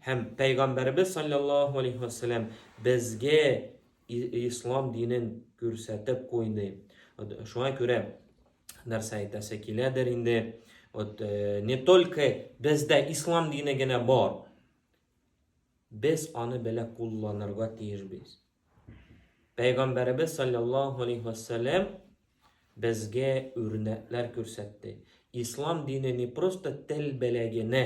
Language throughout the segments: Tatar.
Һәм Пәйгамбәребез саллаллаху алейхи ва саллям безгә ислам динен күрсәтеп куйды. Шуңа күрә нәрсә әйтәсе киләдер инде. Вот э, не только бездә ислам дине генә бар. Без аны белә кулланырга тиешбез. Пәйгамбәребез саллаллаху алейхи ва саллям безгә үрнәкләр күрсәтте. Ислам дине не просто тел беләгенә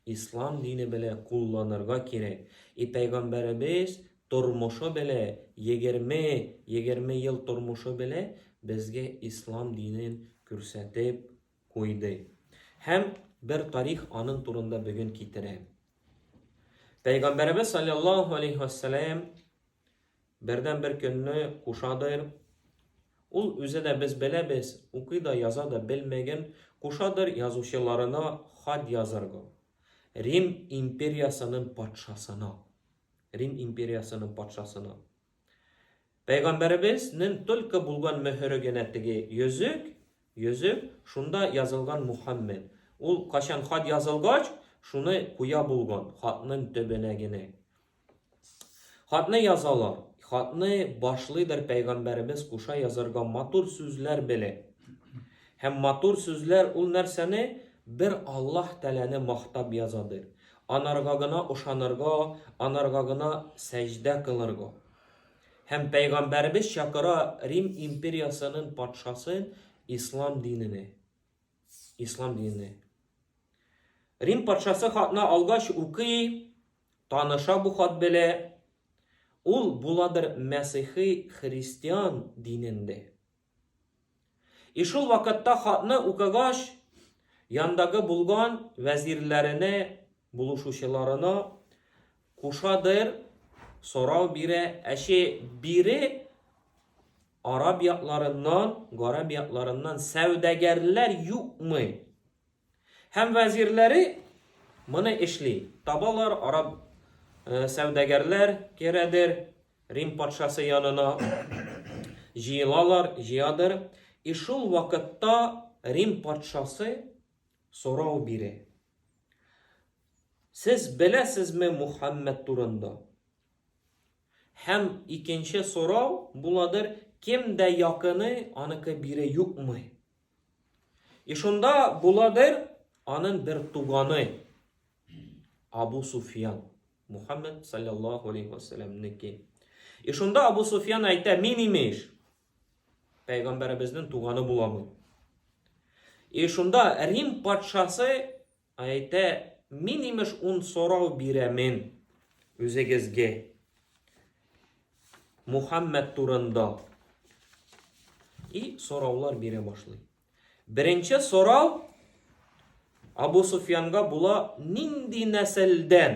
Ислам дине белә кулланырга кирәк. И пәйгамбәребез тормышы белә, егерме, егерме ел тормышы белә безгә ислам динен күрсәтеп куйды. Һәм бер тарих аның турында бүген китерәм. Пәйгамбәребез саллаллаху алейхи вассалам Бердән бер көнне Кушадыр, ул үзе дә без беләбез, укый да яза да белмәген, Кушадыр язучыларына хат язырга, Рим империясының патшасына. Рим империясының патшасына. Пәйгамбәребез нен только булган мөһере генә теге йөзек, йөзек, шунда язылган Мухаммед. Ул качан хат язылгач, шуны куя булган, хатның төбенә генә. Хатны язалар. Хатны башлыйдыр пәйгамбәребез куша язарга матур сүзләр белеп. Һәм матур сүзләр ул нәрсәне бер Аллаһ Тәләне мактап язадыр. Анарга гына ошанырга, анарга гына сәҗдә кылырга. Һәм пәйгамбәребез чакыра Рим империясының патшасын ислам динене. Ислам динене. Рим патшасы хатны алгач укый, Таныша бу хат белә. Ул буладыр мәсыйхи христиан динендә. И шул вакытта хатны укыгач, яндагы булган вәзирләренә, булышучыларына кушадыр сорау бирә, әче бире араб якларыннан, гарәп якларыннан сәүдәгәрләр юкмы? Һәм вәзирләре моны эшли. Табалар, араб сәүдәгәрләр керәдер Рим патшасы янына. Җыелалар, җыядыр. И шул вакытта Рим патшасы сорау бирә. Сез беләсезме Мухаммед турында? Һәм икенче сорау буладыр, кем дә якыны аныкы бире юкмы? И шунда була бер анын бер туганы Абу Суфьян, Мухаммед саллаллаху алейхи ва саллямники. И шунда Абу Суфьян әйтә, мин имеш, пәйгамбәребезнең туганы буламын. И шунда Рим патшасы Әйтә, мин имеш ун сорау бирәмен үзегезгә Мухаммәд турында. И сораулар бирә башлый. Беренче сорау Абу Суфьянга була нинди нәселдән?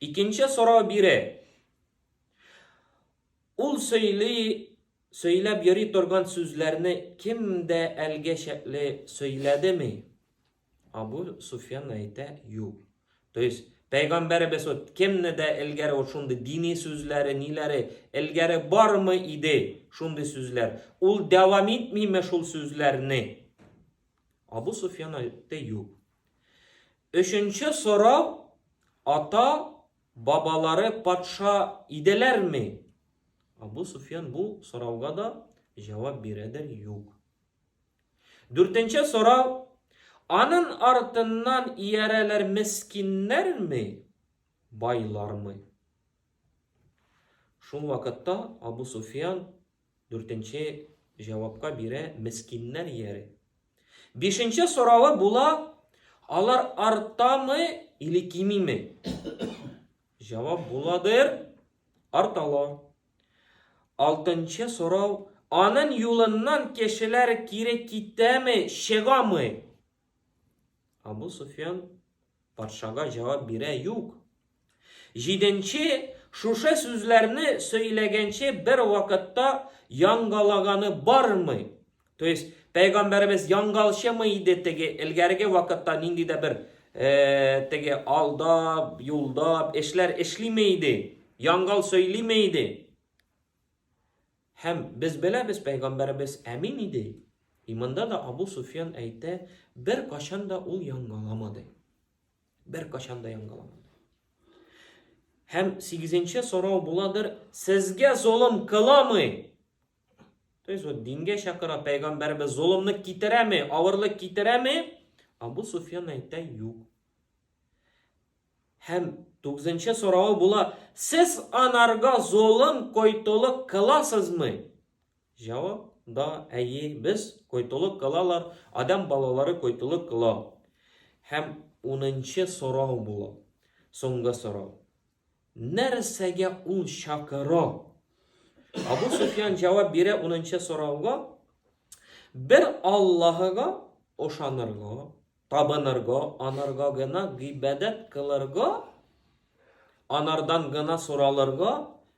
Икенче сорау бире. Ул сөйли, сөйләп йөри торган сүзләрне кем дә әлгә чәкле сөйләдеме? Абу Суфьян әйтә, юк. То есть, Пәйгамбәребез вот кемне дә элгәре вот шундый дини сүзләре, ниләре элгәре бармы иде шундый сүзләр? Ул дәвам итмиме шул сүзләрне? Абу Суфьян әйтте юк. Өченче сорау, Ата, бабалары патша иделәрме? Абу Суфьян бу сорауга да җавап бирәдер, юк. Дүртенче сорау, Анын артыннан иярәләр мескиннәрме, байлармы? Шул вакытта Абу Суфьян Дүртенче җавапка бирә мескиннәр иярә. Бишенче соравы була, алар артамы или кимиме? Җавап буладыр, арталар. Алтынчы сорау, анын юлыннан кешеләр кире китәме, чыгамы? Абу Суфьян патшага җавап бирә, юк. Җиденче шушы сүзләрне сөйләгәнче бер вакытта яңгалаганы бармый. То есть, пәйгамбәребез яңгалчымы иде теге элгәрге вакытта нинди дә бер э, теге алдап, юлдап эшләр эшлиме иде? Яңгал сөйлиме иде? Һәм, без беләбез, пәйгамбәребез әмин иде. Иманда да Абу Суфьян әйтә, беркайчан да ул яңгыламады. Беркайчан да яңгыламады. Һәм сигезенче сорау буладыр, сезгә золым кыламы? То есть вот дингә чакыра пәйгамбәрбез золымны китерәме, авырлык китерәме? Абу Суфьян әйтә, юк. Һәм тугызынчы соравы була, Сез анарга золым, койтолык кыласызмы? Җавап, Да, әйе, без койтолык кылалар, адәм балалары койтолык кыла. Һәм унынчы сорау була, соңгы сорау. Нәрсәгә ул чакыра? Абу Суфьян җавап бирә унынчы сорауга, Бер Аллаһыга ошанырга, Табынырго, анарго гына гыйбадәт кылырго, анардан гына соралырго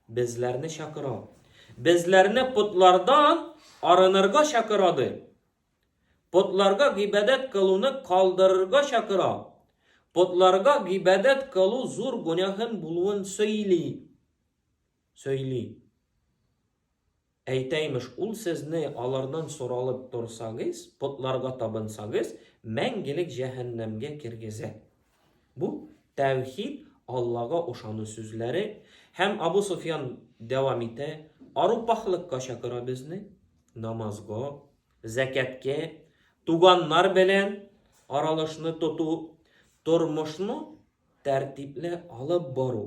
безләрне чакыра. Безләрне потлардан арынырга чакыра ди. Потларга гыйбадәт кылуны калдырырга чакыра. Потларга гыйбадәт кылу зур гөнаһын булуын сөйли. Сөйли. Әйтә, имеш, ул сезне алардан соралып торсагыз, потларга табынсагыз, мәңгелек җәһәннәмгә кергезә. Бу, тәүхид, Аллага ошану сүзләре. Һәм Абу Суфьян дәвам итә, арупахлыкка чакыра безне, намазга, зәкәткә, туганнар белән аралашны тоту, тормышны тәртипле алып бару.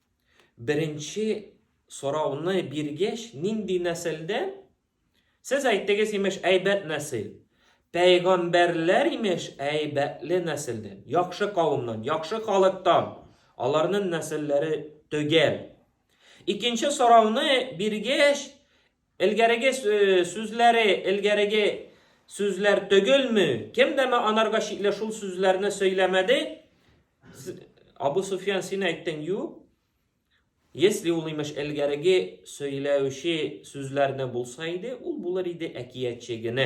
Беренче сорауны биргәч, нинди нәселдә? Сез әйттегез, имеш, әйбәт нәсел. Пәйгамбәрләр, имеш, әйбәтле нәселдә, яхшы кавымнан, яхшы халыктан. Аларның нәселләре төгәл. Икенче сорауны биргәч, Элгәреге сүзләре элгәреге сүзләр төгелме? Кем дә ме анарга чикле шул сүзләрне сөйләмәде? Абу Суфьян син әйттең, ю? Если ул имеш элгәреге сөйләүче сүзләрне булса иде, ул булыр иде әкиятче генә.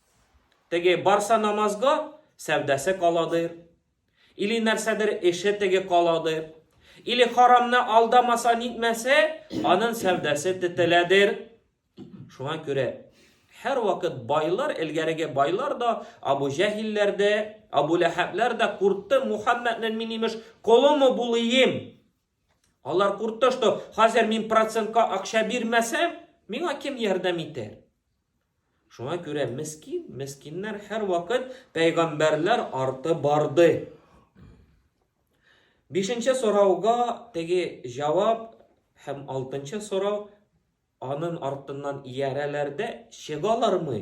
Теге барса намазга, сәүдәсе каладыр. Или нәрсәдер эше теге каладыр. Или харамны алдамаса, нитмәсә, анын сәүдәсе тетеләдер. Шуңа күрә һәр вакыт байлар, элгәреге байлар да, Абу Җәһилләр дә, Абу Ләһәбләр дә куртты, Мухаммәднен мин имеш колымы булыйм. Алар куртты, что хәзер мин процентка акча бирмәсәм, миңа кем ярдәм итәр? Шуңа күрә мескин, мескиннәр һәрвакыт пәйгамбәрләр арты барды. Бишенче сорауга теге җавап һәм алтынчы сорау анын артыннан иярәләр дә чыгалармы?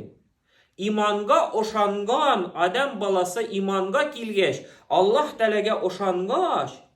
Иманга ошанган адәм баласы иманга килгәч, Аллаһ Тәгаләгә ошангач,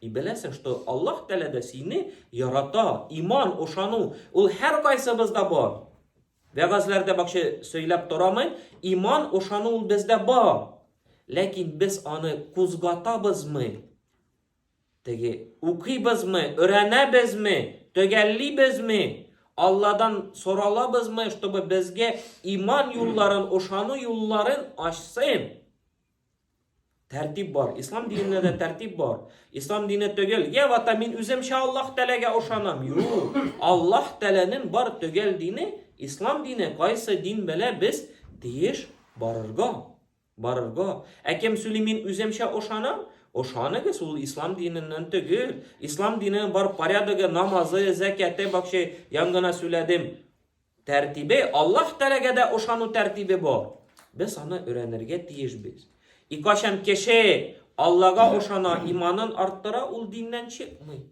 И беләсең, что Аллаһ Тәгалә дә сине ярата. Иман, ошану, ул һәркайсыбызда бар. Вәгазьләрдә бакча сөйләп торамын, иман, ошану ул бездә бар. Ләкин без аны кузгатабызмы? Теге укыйбызмы, өйрәнәбезме, төгәллибезме? Алладан соралабызмы, чтобы безгә иман юлларын, ошану юлларын ачсын? Тәртип бар. Ислам динендә дә тәртип бар. Ислам дине төгәл. Я вата мин үземчә Аллаһ Тәләгә ошанам. Юк. Аллаһ Тәләнең бар төгәл дине, ислам дине. Кайсы дин белә без тиеш барырга. Барырга. Ә кем сөйли мин үземчә ошанам? Ошаныгыз ул ислам диненнән төгәл. Ислам диненең бар порядогы, намазы, зәкяте, бакчы, янгына сүләдем. Тәртибе, Аллаһ Тәгаләгә дә ышану тәртибе бар. Без аны өйрәнергә тиешбез. И кайчан кеше Аллага ошана, иманын арттыра, ул диннән чыкмый.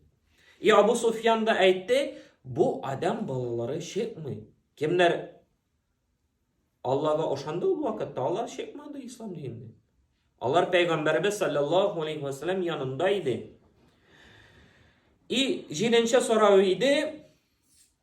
И Абу Суфьян да әйтте, бу адам балалары чыкмый. Кемнәр Аллага ошанды ул вакытта, алар чыкмады ислам диненнән. Алар пәйгамбәрбез саллаллаху алейхи ва саллям янында иде. И җиденче сорау иде,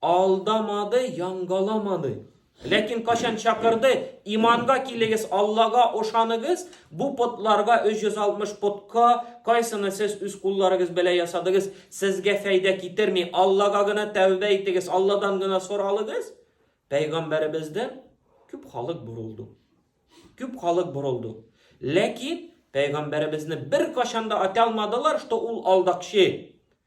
алдамады, янгаламады. Ләкин качан чакырды, иманга килегез, Аллага ошаныгыз, бу потларга 360 потка, кайсыны сез үз кулларыгыз белән ясадыгыз, сезгә фәйдә китерми. Аллага гына тәүбә итегез, Алладан гына соралыгыз. Пәйгамбәребездән күп халык борылды. Күп халык борылды. Ләкин пәйгамбәребезне бер кашанда ата алмадылар, что ул алдакчы.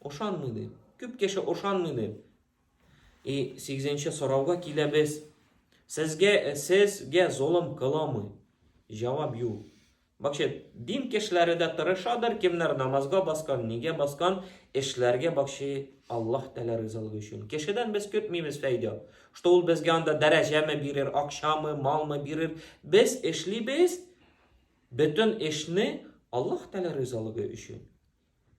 Ошанмый ди. Күп кеше ошанмый ди. И 8-нче сорауга киләбез. Сезгә сезгә золым кыламы? Җавап юк. Бакча дин кешеләре дә тырышадыр, кемнәр намазга баскан, нигә баскан, эшләргә бакчы Аллаһ Тәгалә ризалыгы өчен. Кешедән без көтмибез фәйдә. Что ул безгә анда дәрәҗәме бирер, акчамы, малмы бирер. Без эшлибез бөтен эшне Аллаһ Тәгалә ризалыгы өчен.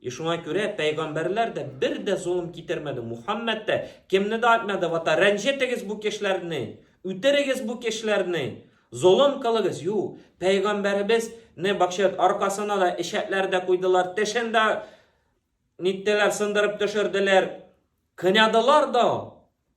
И шуңа күрә пәйгамбәрләр дә бер дә золым китермәде, Мухаммәд дә кемне дә атмады, вата, рәнҗетегез бу кешеләрне, үтерегез бу кешеләрне, золым кылыгыз, ю, пәйгамбәребез не бакчат, аркасына да эчәкләр дә куйдылар, тешен дә ниттеләр, сындырып төшерделәр, кынадылар да,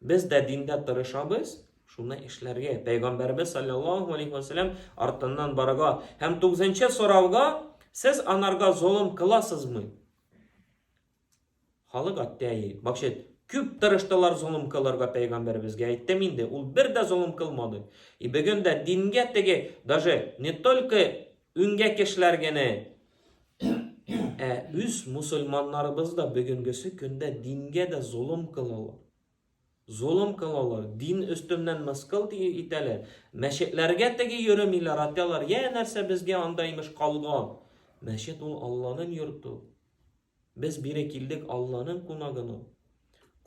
Без дә диндә тырышабыз, шуны эшләргә, пәйгамбәребез саллаллаһу алейһи ва сәлләм артыннан барырга. Һәм тугызынчы сорауга, сез анарга золым кыласызмы? Халык атты әйе. Бакчет, күп тырыштылар золым кылырга пәйгамбәребезгә, әйттем инде, ул бер дә золым кылмады. И бүген дә дингә теге, даже не только Үңгә кешеләр гене! Ә үз мусульманнарыбыз да бүгенгесе көндә дингә дә золым кылалар. Золым кылалар, дин өстеннән мыскыл итәләр. Мәчетләргә теге йөремиләр, атялар, я нәрсә безгә анда имеш калган. Мәчет ул Алланың йорты. Без бире килдек Алланың кунагын ул.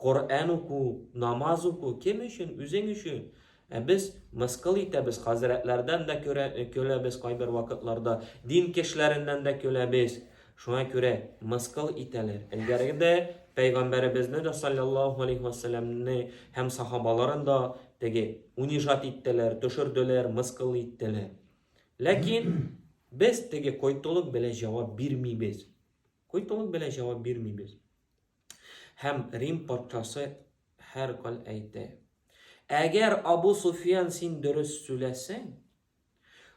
Коръән уку, намаз уку кем өчен? Үзең өчен. Ә без мыскыл итәбез, хәзрәтләрдән дә көләбез кайбер вакытларда, дин кешеләреннән дә көләбез. Шуңа күрә мыскыл итәләр. Элгәреге дә пәйгамбәребезне дә саллаллаһу алейхи вассаламны һәм сахабаларын да теге унижать иттеләр, төшерделәр, мыскыл иттеләр. Ләкин без теге койтылык белән җавап бирмибез. Куйпылык белән җавап бирмибез. Һәм Рим патшасы һәркал әйтә, Әгәр Абу Суфиян син дөрес сүләсең,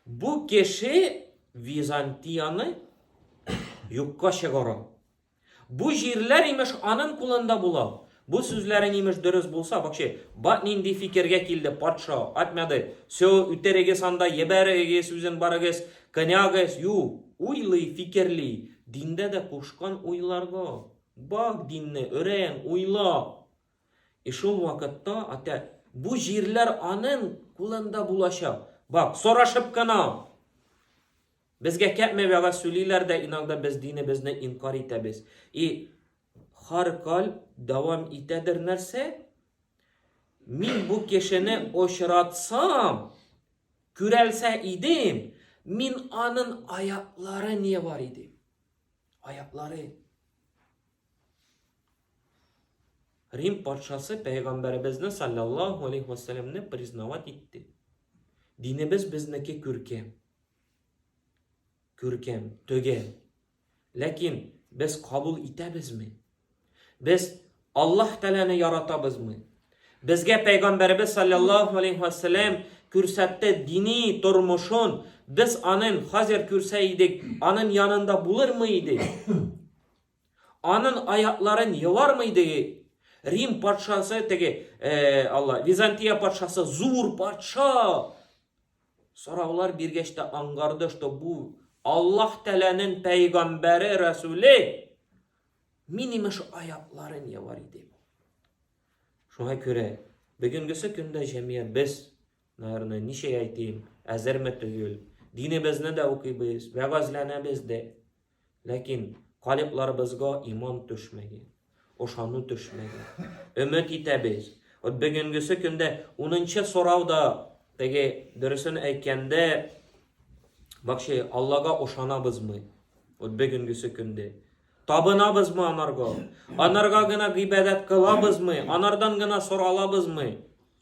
бу кеше Византияны юкка чыгара. Бу җирләр имеш анын кулында була. Бу сүзләрең имеш дөрес булса, вокше, ба нинди фикергә килде патша, атмяды, сё, үтерегез анда, ебәре егез үзен барыгыз, конягыз, ю, уйлый, фикерли, диндә дә кушкан уйларга, бак динне, өрән, уйла. И шул вакытта, атә, бу җирләр анын кулында булачак, бак, сорашып кына! Безгә кәпме вәгазь сүлиләр дә иногда без динебезне инкар итәбез, и Хар каль дәвам итәдер нәрсә? Мин бу кешене очратсам, күрәлсә идем, мин анын аяклары не бар иде. Аяклары. Рим патшасы пәйгамбәребезне саллаллаху алейхи вассаламны признавать итте. Динебез безнеке күркәм. Күркәм, төгәл. Ләкин без кабул итәбезме? Без Аллаһ Тәгаләне яратабызмы? Безгә Пәйгамбәребез саллаллаһу алейхи ва саллям күрсәтте дини тормышын, без анын хәзер күрсә идек, анын янында булырмы идек? Анын аякларын елармы идек? Рим патшасы теге, э, Алла, Византия патшасы зур патша. Сораулар биргәч тә аңгарды, что бу Аллаһ Тәләнен пәйгамбәре, Рәсүле. Мин имеш аякларын явар иде. Шуңа күрә бүгенгесе көндә җәмия без, наверное, ничә әйтим, әзерме түгел. Динебезне дә укыйбыз, вәгазьләнәбез дә. Ләкин калибларыбызга иман төшмәгән, ошану төшмәгән. Өмет итәбез. Вот бүгенгесе көндә унынчы сорау да теге дөресен әйткәндә бакчы Аллага ошанабызмы? Вот бүгенгесе көндә табынабызмы анарга? Анарга гына гыйбадәт кылабызмы? Анардан гына соралабызмы?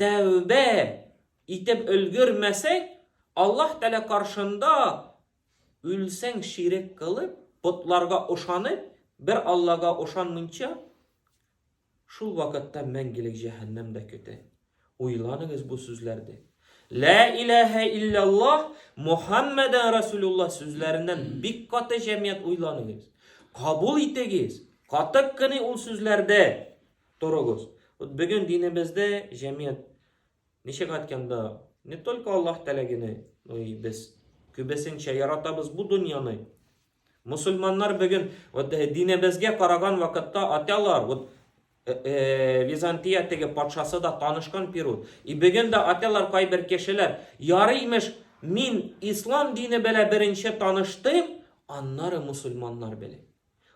Тәүбә итеп өлгермәсәң, Аллаһ Тәгалә каршында үлсәң ширек кылып, потларга ышанып, бер Аллага ышанмыйча, шул вакытта мәңгелек җәһәннәм дә көтә. Уйланыгыз бу сүзләрне. Лә иләһә илляллаһ Мухаммәдән Расулуллаһ сүзләреннән бик каты җәмият уйланыгыз. Кабул итегез. Катык кыны ул сүзләрдә. Торыгыз. Вот бүген динебездә җәмият ничек әйткәндә, не только Аллаһ теләгене, но и без күбесенчә яратабыз бу дөньяны. Мусульманнар бүген вот э, динебезгә караган вакытта аталар, вот э, э, Византия теге патшасы да танышкан Перут. И бүген дә аталар кайбер кешеләр, ярыймеш, мин ислам дине белән беренче таныштым, аннары мусульманнар белән.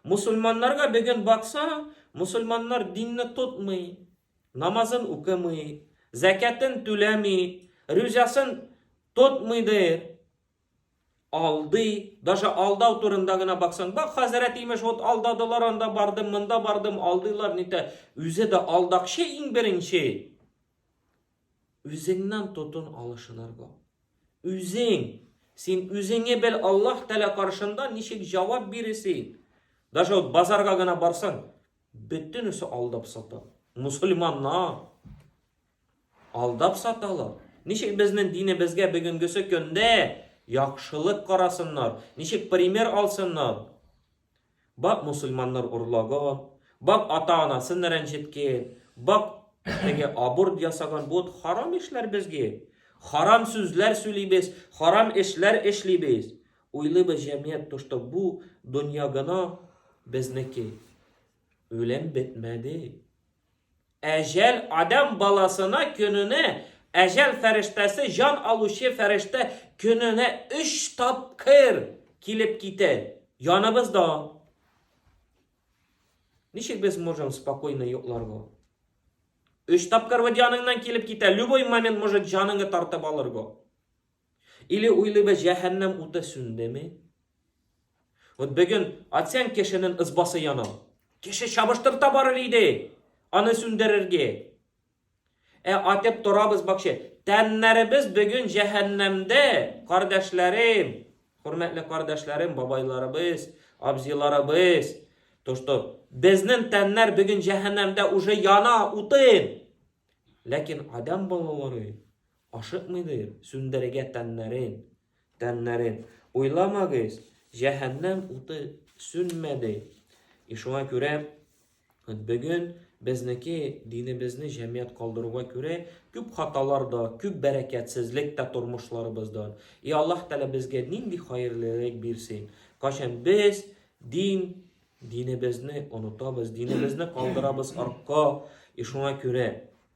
Мусульманнарга бөген бакса, мусульманнар динне тотмый, намазын укымый, зәкятын түләми, рүзясын тотмый ди, алдый, даже алдау турында гына баксаң, бак хәзрәт имеш, вот алдадылар, анда бардым, монда бардым, алдыйлар, нитә, үзе дә алдакчы иң беренче. Үзеңнән тотын алышынырга. Үзең! Син үзеңе бел, Аллаһ Тәгалә каршында ничек җавап биресең. Даже вот базарга гына барсаң, бөтенесе алдап сата. Мусульманнар алдап саталар. Ничек безнең динебезгә бүгенгесе көндә яхшылык карасыннар, ничек пример алсыннар? Бак мусульманнар урлаган, бак ата-анасын рәнҗеткән, бак теге аборт ясаган, бу харам эшләр безгә. Харам сүзләр сүлибез, харам эшләр эшлибез. Уйлыйбыз җәмият то, что бу дөнья гына безнеке. Үлем бетмәде. Әҗәл адәм баласына көненә, әҗәл фәрештәсе җан алучы фәрештә көненә өч тапкыр килеп китә. Яныбызда. Ничек без можем спокойно йокларга? Өч тапкыр вот яныңнан килеп китә, любой момент может җаныңы тартып алырга. Или уйлыйбыз, җәһәннәм уты сүндеме? Вот бүген атсәң кешенең ызбасы яна. Кеше чабыштырта барыр иде, аны сүндерергә. Ә атып торабыз бакчы. Тәннәребез бүген җәһәннәмдә, кардәшләрем, хөрмәтле кардәшләрем, бабайларыбыз, абзиларыбыз. То, что безнең тәннәр бүген җәһәннәмдә уже яна, утын. Ләкин адам балалары Ашыкмыйдыр сүндерергә тәннәрен, тәннәрен. Уйламагыз, җәһәннәм уты сүнмәде. И шуңа күрә бүген безнеке динебезне җәмият калдыруга күрә күп хаталар да, күп бәрәкәтсезлек тә тормышларыбыздан. И Аллаһ Тәгалә безгә нинди хәерлерәк бирсен. Кайчан без дин динебезне онытабыз, динебезне калдырабыз артка. И шуңа күрә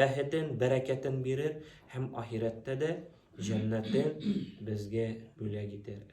Бәхетен, бәрәкәтен бирер һәм ахирәттә дә җәннәтен безгә бүләк итәр.